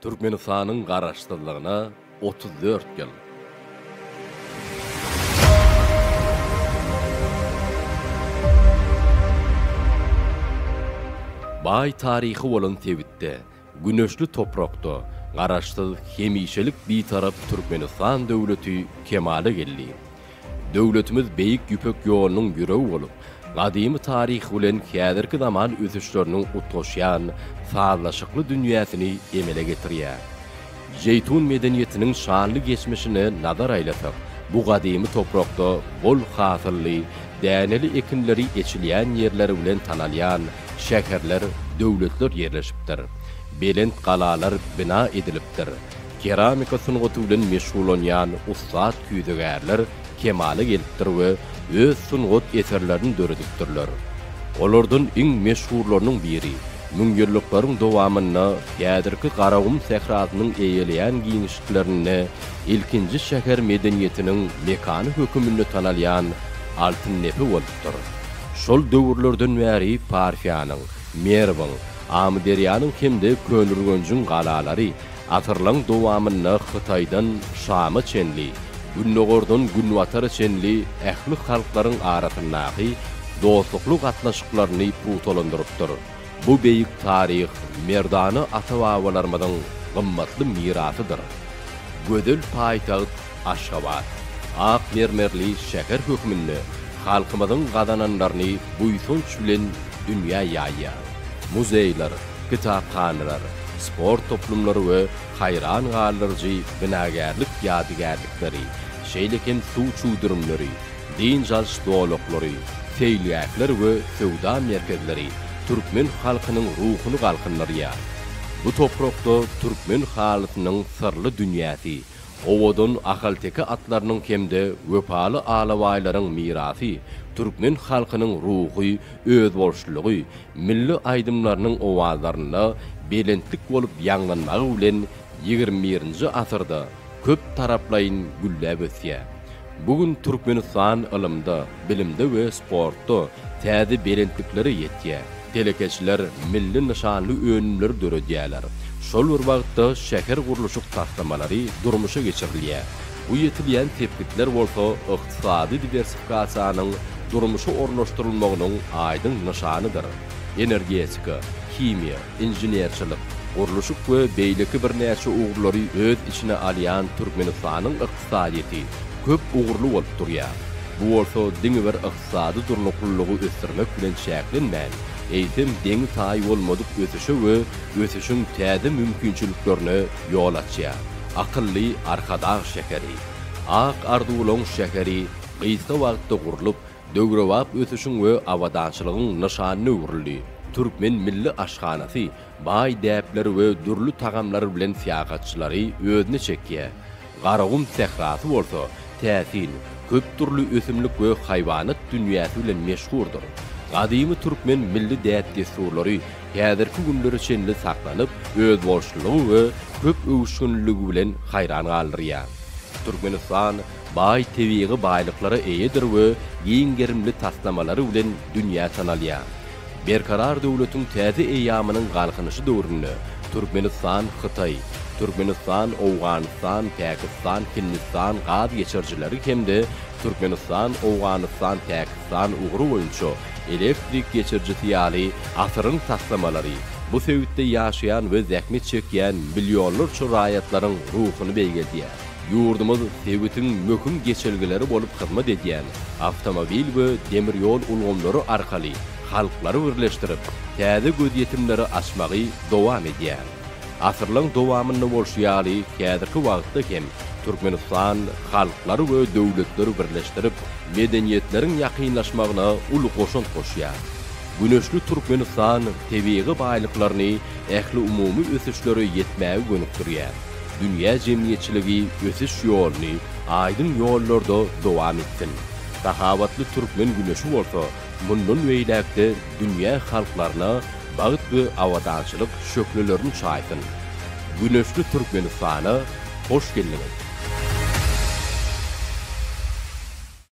Türkmenistanyň Garaşsyzlygyna otuz dört ýyl! Baý taryhy bolan sebitde, güneşli toprakda Garaşsyz, hemişelik Bitarap Türkmenistan döwleti kemala geldi. Döwletimiz Beýik Ýüpek ýolunyň ýüregi bolup, gadymy taryhy bilen häzirki zaman ösüşleriniň utgaşýan sazlaşykly dünýäsini emele getirýär. Jeýtun medeniýetiniň şanly geçmişine nazar aýlasak, bu gadymy toprakda bol hasylly, däneli ekinleri eçilýän ýerleri bilen tanalýan şäherler, döwletler ýerleşipdir. Belent galalar bina edilipdir. Keramika sungaty bilen meşgullanýan ussat küýzegärler kemala gelipdir we öz sungat eserlerini döredipdirler. Olardan iň meşhurlarynyň biri, müňýyllyklaryň dowamynda häzirki Garagum sährasynyň eýeleýän giňişliklerinde ilkinji şäher medeniýetiniň mekany höküminde tanalýan Altyndepe bolupdyr. Şol döwürlerden bäri Parfiýanyň, Merwiň, Amyderýanyň hem-de Köneürgenjiň galalary Asyrlaryň dowamynda Hytaýdan Şama çenli, Gündogardan Günbatara çenli ähli halklaryň arasyndaky dostlukly gatnaşyklaryny pugtalandyrypdyr. Bu beýik taryh merdana ata-babalarymyzyň gymmatly mirasydyr. Gözel paýtagt Aşgabat, ak mermerli şäher hökmünde halkymyzyň gazananlaryny buýsanç bilen dünýä ýaýýar. Muzeýler, kitaphanalar, sport toplumlary we haýran galdyryjy binagärlik ýadygärlikleri, şeýle hem suw çüwdürimleri, dynç alyş zolaklary, seýilgähler we söwda merkezleri türkmen halkynyň ruhuny galkyndyrýar. Bu toprakda türkmen halysynyň syrly dünýäsi, Owadan ahalteke atlarynyň hem-de wepaly alabaýlaryň mirasy, türkmen halkynyň ruhy özboluşlylygy, milli aýdymlarynyň owazlarynda belentlik bolup ýaňlanmagy bilen ýigrimi birinji asyrda köp taraplaýyn gülläp ösýär. Bu gün Türkmenistan ylymda, bilimde we sportda täze belentliklere ýetýär. Telekeçiler milli nyşanly önümleri döredýärler. Şol bir wagtda şähergurluşyk taslamalary durmuşa geçirilýär. Bu ýetilýän sepgitler bolsa ykdysady diwersifikasiýanyň durmuşa ornaşdyrylmagynyň aýdyň nyşanydyr. Energetika, himiýa, inženerçilik, gurluşyk we beýleki birnäçe ugurlary öz içine alýan Türkmenistanyň ykdysadyýeti köp ugurly bolup durýar. Bu bolsa diňe bir ykdysady durnuklylygy ösdürmek bilen çäklenmän, eýsem deňi-taýy bolmadyk ösüşe we ösüşiň täze mümkinçiliklerine ýol açýar. Akylly Arkadag şäheri, Ak arzuwlaň şäheri gysga wagtda gurlup, döwrebap ösüşiň we abadançylygyň nyşanyna öwrüldi. Türkmen milli aşhanasy Baý däpler we dürli tagamlar bilen syýahatçylary özüne çekýär. Garagum sährasy bolsa täsin, köp dürli ösümlik we haýwanat dünýäsi bilen meşhurdyr. Gadymy türkmen milli däp-dessurlary häzirki günlere çenli saklanyp, özboluşlylygy we köp öwüşginliligi bilen haýran galdyrýar. Türkmenistan baý tebigy baýlyklara eýedir we giň gerimli taslamalary bilen dünýä tanalýar. Berkarar döwletiň täze eýýamynyň Galkynyşy döwründe Türkmenistan, Hytaý, Türkmenistan, Owganystan, Pakistan, Hindistan gaz geçirijileri hem-de Türkmenistan, Owganystan, Pakistan ugry boýunça elektrik geçirijisi ýaly asyryň taslamalary bu sebitde ýaşaýan we zähmet çekýän millionlarça raýatlaryň ruhuny beýgeldýär. Ýurdumyz sebitiň möhüm geçelgeleri bolup hyzmat edýän awtomobil we demir ýol ulgamlary arkaly halklary birleşdirip, täze gözýetimleri açmagy dowam edýär. Asyrlaň dowamynda bolşy ýaly, häzirki wagtda hem Türkmenistan halklary we döwletleri birleşdirip, medeniýetleriň ýakynlaşmagyna uly goşant goşýar. Güneşli Türkmenistan tebigy baýlyklaryny ähliumumy ösüşlere ýetmäge gönükdirýär. Dünýä jemgyýetçiligi ösüş ýoluny aýdyň ýollarda dowam etsin. Sahawatly türkmen güneşi bolsa mundan beýläk-de dünýä halklaryna bagt we abadançylyk şöhlelerini çaýsyn. Güneşli Türkmenistana hoş geldiňiz!